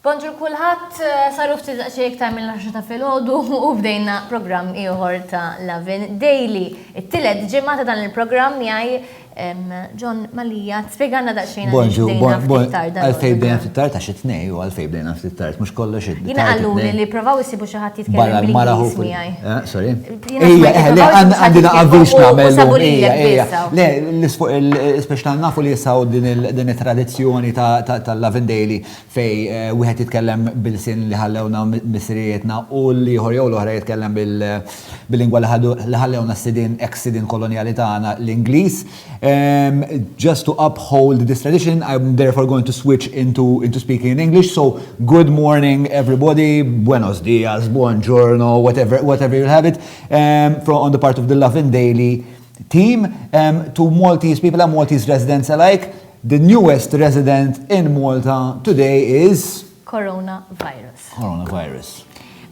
Bonġur kulħadd, saru ftit daqsxejn iktar mill-10 ta' filgħodu u bdejna programm ieħor ta' Lovin Daily. It-tielet ġimgħa ta' dan il-programm jgħi John Malija, spiegħanna daqsxejn Bonġu, għalfej bdejna ftit tard għax it-tnej u għalfej bdejna ftit tard, mhux kollox id Jina għallu li provaw isibu xi ħadd jitkellem bl-Ingliż miegħi. Eh, sorry. Ejja, eh, le għandi naqabilx nagħmel. Ejja, ejja. Le, l-isfuq il-speċtal nafu li jisaw din it-tradizzjoni tal-Lavin Daily fejn wieħed jitkellem b'ilsien li ħallewna missirijietna u l-ieħor jew l-oħra jitkellem bil-lingwa li ħallewna s-sidien, ex sidien kolonjali tagħna, l-Ingliż. Just to uphold this tradition, I am therefore going to switch into into speaking in English, so good morning everybody, buenos dias, buongiorno, whatever whatever you have it, from on the part of the Lovin Daily, Theme, To Maltese people and Maltese residents alike, the newest resident in Malta today is. Coronavirus. Coronavirus.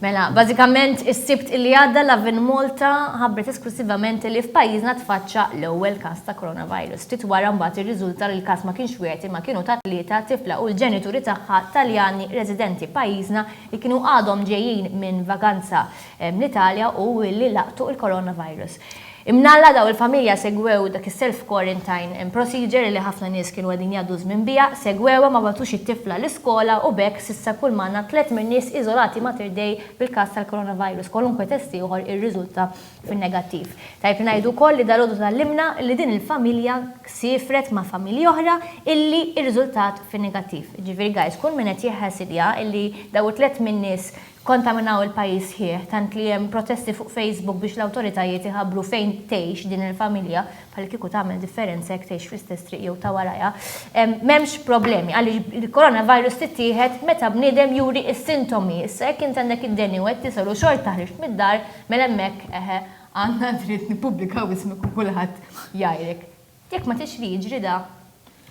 Mela, bażikament is-Sibt li għadda Lovin Malta ħabbret esklussivament li f'pajjiżna tfaċċa l-ewwel każ ta' coronavirus. Ftit wara mbagħad irriżulta li l-każ ma kienx wieħed imma kienu ta' tlieta, tifla u l-ġenituri tagħha Taljani residenti pajjiżna li kienu għadhom ġejjin minn vaganza. mill-Italja u li laqtu il-coronavirus. Imnalla daw il-familja segwew dak is-self quarantine procedure li ħafna nies kienu qegħdin jgħaddu ż-żmien biha, segwewha ma bagħtux it-tifla l-iskola u b'hekk s'issa kull m'għandna tliet mir-nies iżolati Mater Dei bil-każ tal-coronavirus, kwalunkwe test ieħor irriżulta fin-negattiv. Tajjeb li ngħidu wkoll li dalgħodu tgħallimna li din il-familja siefret ma' familji oħra illi irriżultat fin-negattiv. Jiġifieri guys kull min qed jħasidja illi daw it-tliet min-nies Kkontaminaw il-pajjiż sħiħ, tant li hemm protesti fuq Facebook biex l-awtoritajiet iħabbru fejn tgħix din il-familja, bħallikieku tagħmel differenza jekk tgħix fl-istess triq jew ta' warajha. M'hemmx problemi, għaliex il-coronavirus tittieħed meta bniedem juri s-sintomi. Issa jekk int għandek id-deni u qed tisgħor u xorta ħriġt mid-dar, mela hemmhekk, eħe, għandna dritt nippubblikaw ismek u kulħadd jgħajrek. Jekk ma tridx li jiġri da,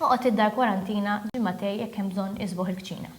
oqgħod id-dar kwarantina ġimagħtej jekk hemm bżonn isboħ il-kċina.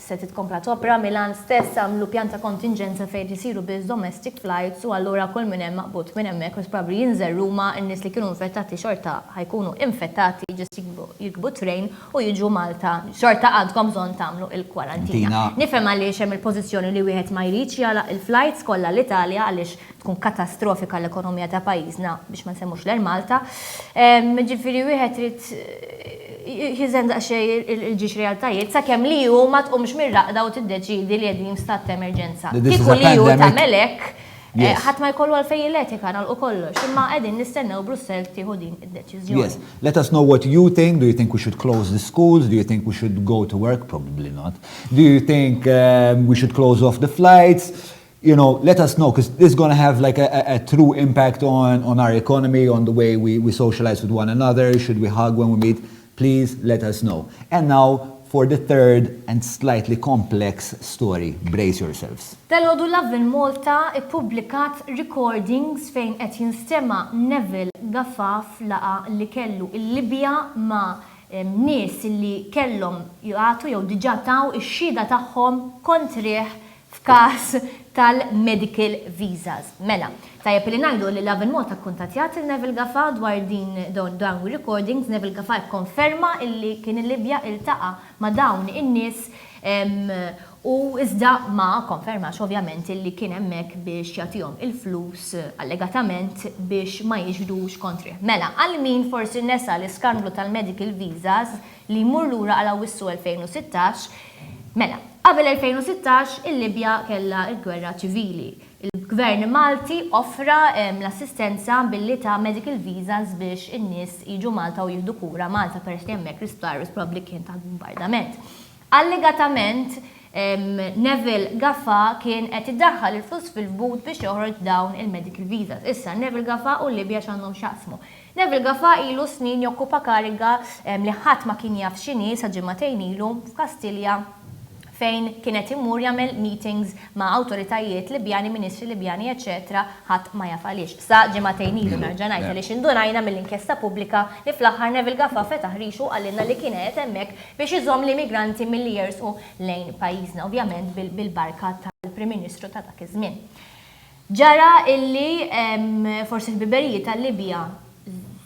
Se titkompla topera Milan stess għamlu pjan ta' kontinġenza fejn isiru biss domestic flights u allura kull min hemm maqbud minn hemmhekk most probably jinżel Ruma, in-nies li kienu infettati xorta ħa jkunu infettati just jikbu jirkbu train u jiġu Malta xorta għandkom bżonn tagħmlu il-kwarantina. Nifhem għaliex hemm il-pożizzjoni li wieħed ma jridx jagħlaq il-flights kollha l-Italja għaliex tkun katastrofika għall-ekonomija ta' pajjiżna biex ma nsemmux l-Air Malta. Ġifieri wieħed irid jiżen daqsxejn il-ġiex realtajiet sakemm li hu ma tqumx mir-raqda u tiddeċiedi li qegħdin f'stat ta' emerġenza. Kieku li hu tagħmel hekk, ħadd ma jkollu għalfejn jilletika nagħlqu kollox, imma qegħdin nistennew Brussell tieħu din id-deċiżjoni. Yes. Let us know what you think, do you think we should close the schools, do you think we should go to work, probably not, do you think we should close off the flights, you know, let us know, because this is going to have like a, a, a true impact on, on our economy, on the way we, we socialize with one another, should we hug when we meet, please let us know. And now, for the third and slightly complex story, brace yourselves. Tal-għodu Love in Malta ippubblikat recordings fejn qed jinstema Neville Gaffaf laqa li kellu il-Libja ma' nies li kellhom jgħatu jew diġà taw ix-xhieda tagħhom kontrih f'każ tal-medical visas. Mela, tajjeb li ngħidu li Love and Malta kkuntattjat lil Neville Gafa dwar din dawn ir-recordings. Neville Gafa kkonferma illi kien il-Libja iltaqa' ma' dawn in-nies u iżda ma kkonfermax ovvjament illi kien hemmhekk biex jagħtihom il-flus allegatament biex ma jiġrux kontrih. Mela, għal min forsi nesa l-iskandlu tal-medical visas, li jmur lura għal Awwissu 2016, mela, qabel 2016 il-Libja kellha l-gwerra ċivili. Il-Gvern Malti offra l-assistenza billi ta medical visas biex in-nies jiġu Malta u jieħdu kura Malta peress li hemmhekk l-isptar probabbli kien taħt bumbardament. Allegatament Neville Gafà kien qed idaħħal il-flus fil-but biex joħroġ dawn il-medical visas. Issa, Neville Gafà u l-Libja x'għandhom x'jaqsmu? Neville Gafa ilu snin jokkupa kariga li ħadd ma kien jaf x'inhi sa ġimagħtejn ilu f'Kastilja fejn kien qed imur jagħmel meetings ma' awtoritajiet Libjani, ministri Libjani eċċetera ħadd ma jaf għaliex. Sa ġimagħtejn ilu, nerġa' ngħid, għaliex indunajna mill-inkjesta pubblika li fl-aħħar Neville Gafa fetaħ rixu u qalilna li kien qiegħed hemmhekk biex iżomm l-immigranti milli jersqu lejn pajjiżna, ovvjament bil-barka tal-Prim Ministru ta' dak iż-żmien. Ġara illi forsi l-biberijiet tal-Libja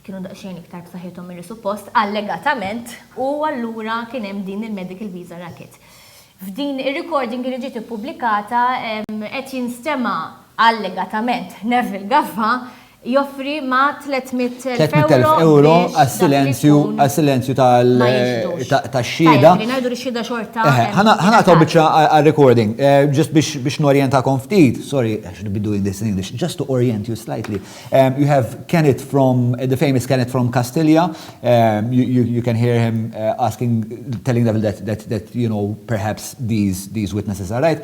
kienu daqsxejn iktar b'saħħithom milli suppost, allegatament, u allura kien hemm din il-medical visa racket. F'din ir-recording li ġiet ippubblikata qed jinstema', allegatament, Neville Gaffa joffri ma' 300,000 euro għas-silenzju għas-silenzju tax-xhieda. Li ngħidu li x-xhieda xorta. Ħa nagħtaw biċċa għar-recording. Ġust biex norjentakom ftit, sorry għax I'll be doing this in English, just to orient you slightly. You have Kennet from, the famous Kennet from Kastilja. You can hear him asking, telling them that, you know, perhaps these witnesses are right.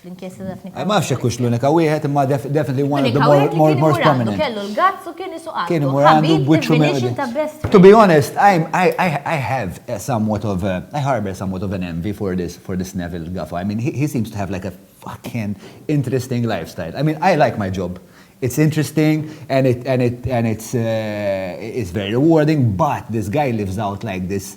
fl-inkjesta ta' Fnika. Ma xek kux l-unika wieħed imma definitely one of the more, more, more prominent. Kellu l-gazz u kien isu Kien imur għandu bwiċċu minn. To be honest, I, I, I, I have a somewhat of a, I harbor somewhat of an envy for this, for this Neville Gaffa. I mean, he, he seems to have like a fucking interesting lifestyle. I mean, I like my job. It's interesting and it and it and it's uh, it's very rewarding, but this guy lives out like this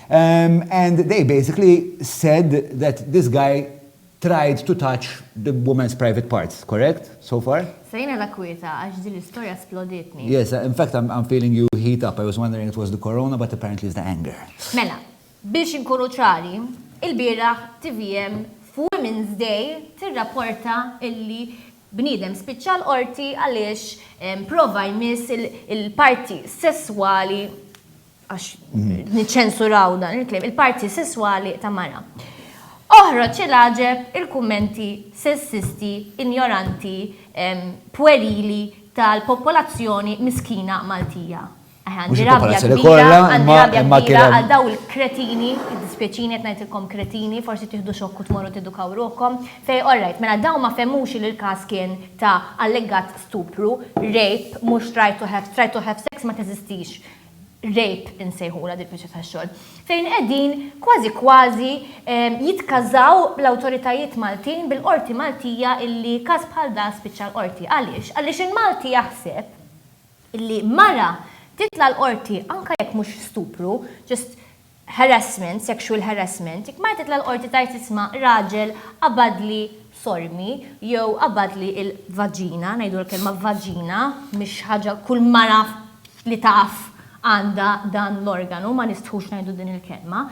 And they basically said that this guy tried to touch the woman's private parts, correct so far? Sejna la kwieta għax din l-istorja splodietni. Yes, in fact I'm feeling you heat up, I was wondering it was the corona but apparently it's the anger. Mela, biex inkunu ċari, ilbieraħ tvm f'Women's Day tirrapporta illi bniedem spiċċa l-Qorti għaliex prova jmiss il-parti sesswali għax niċċensuraw dan il-kliem, il-parti sesswali ta' mara. Oħroġ il-għaġeb il-kummenti sessisti, injoranti, pwerili tal-popolazzjoni miskina Maltija. Għandi rabja kbira, għandi rabja kbira għal daw il-kretini, id-dispieċini qed ngħidilkom kretini, forsi tieħdu xokk u tmorru tedukaw ruħkom, fej orrajt, mela daw ma fehmux li l-każ kien ta' allegat stupru, rape, mhux try to have, try to have sex ma teżistix. rape insejħulha dik biċċa tax-xogħol, fejn qegħdin kważi kważi ehm, jitkażaw l-awtoritajiet Maltin bil-qorti Maltija illi każ bħal da spiċċa l-qorti. Għaliex? Għaliex il-Malti jaħseb illi mara titla' l-qorti anke jekk mhux stupru, ġust harassment, sexual harassment, jekk mara titla' l-qorti tgħid isma' raġel qabadli sormi jew qabadli l-vaġina, ngħidu l-kelma vaġina, mhix ħaġa kull mara li taf għandha dan l-organu, ma nistħux ngħidu din il-kelma.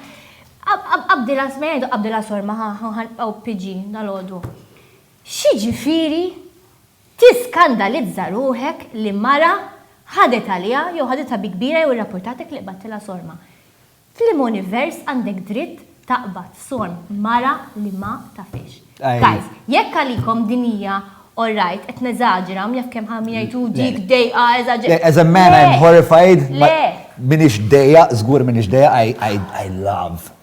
Qabdilha sma jgħidu qabdilha sorma, ħa ħanibqgħu PG dalgħodu. X'jiġifieri Tiskandalizza ruħek li mara ħadet għaliha jew ħaditha bi kbira jew irrappurtatek li qbadtilha sorma. F'liema univers għandek dritt taqbad sorm mara li ma tafhiex? Guys, jekk għalikom din hija alright, qed neżaġera, hawn jaf kemm min jgħid hu dik dejqa eżaġ. Le, as a man I'm horrified, m'iniex dejjaq, żgur m'iniex dejjaq, I love.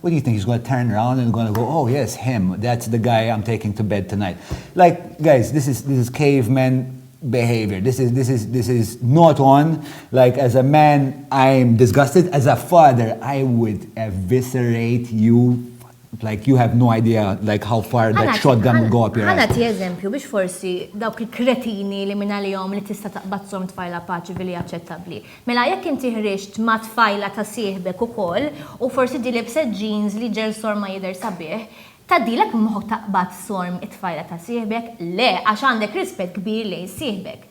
What do you think, he's gonna turn around and gonna go, oh yes, him, that's the guy I'm taking to bed tonight. Like, guys, this is, this is caveman behavior. This is, this is, this is not on. Like, as a man, I'm disgusted. As a father, I would eviscerate you like you have no idea like how far that shot them will go up your Għana ti eżempju biex forsi dawk il-kretini li minna li jom li tista taqbazzom tfajla paċi billi aċċettabli. Mela jekk inti ħriġt ma' tfajla ta' sieħbek ukoll u forsi di lebset jeans li ġel sorma jidher sabiħ, tgħaddilek minn moħħok taqbad sorm it-tfajla ta' sieħbek? Le, għax għandek rispett kbir lejn sieħbek.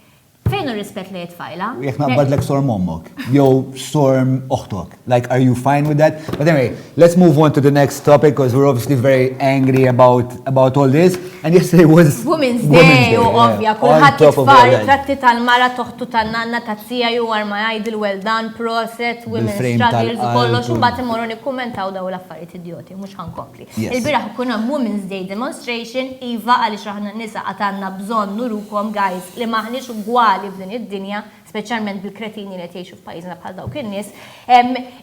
Fejn hu r-rispett lejn it-tfajla? U jekk naqbadlek sorm ommok, jew sorm oħtok? Like are you fine with that? But anyway, let's move on to the next topic because we're obviously very angry about about all this. And yesterday was Women's Day, u ovvja, kulħadd jitfar tratti tal-mara toħtu tan-nanna ta' tija ju għar ma jgħid il-well done, proset, women's struggles, kollox, u bat imorru nikkummentaw daw l-affarijiet idioti, mhux ħankompli. Il-biraħ kun hemm Women's Day demonstration, iva għaliex aħna nisa għatanna bżonn nurukom guys li maħniex ugwali f'din id-dinja speċjalment bil-kretini li qed jgħixu f'pajjiżna bħal dawk in-nies.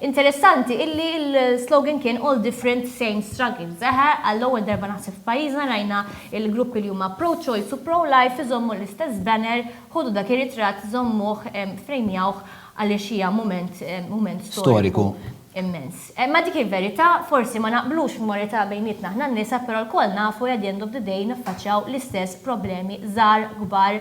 Interessanti illi l-slogan kien all different same struggles. Eħe, għall-ewwel darba naħseb f'pajjiżna rajna il-gruppi li huma pro-choice u pro-life iżommu l-istess banner, ħodu dak ir-ritratt, żommuh, frejmjawh għaliex hija mument mument storiku immens. Ma dik il-verità, forsi ma naqblux f'morità bejnietna aħna n-nisa, però lkoll nafu li at the end of the day niffaċċjaw l-istess problemi żgħar, kbar,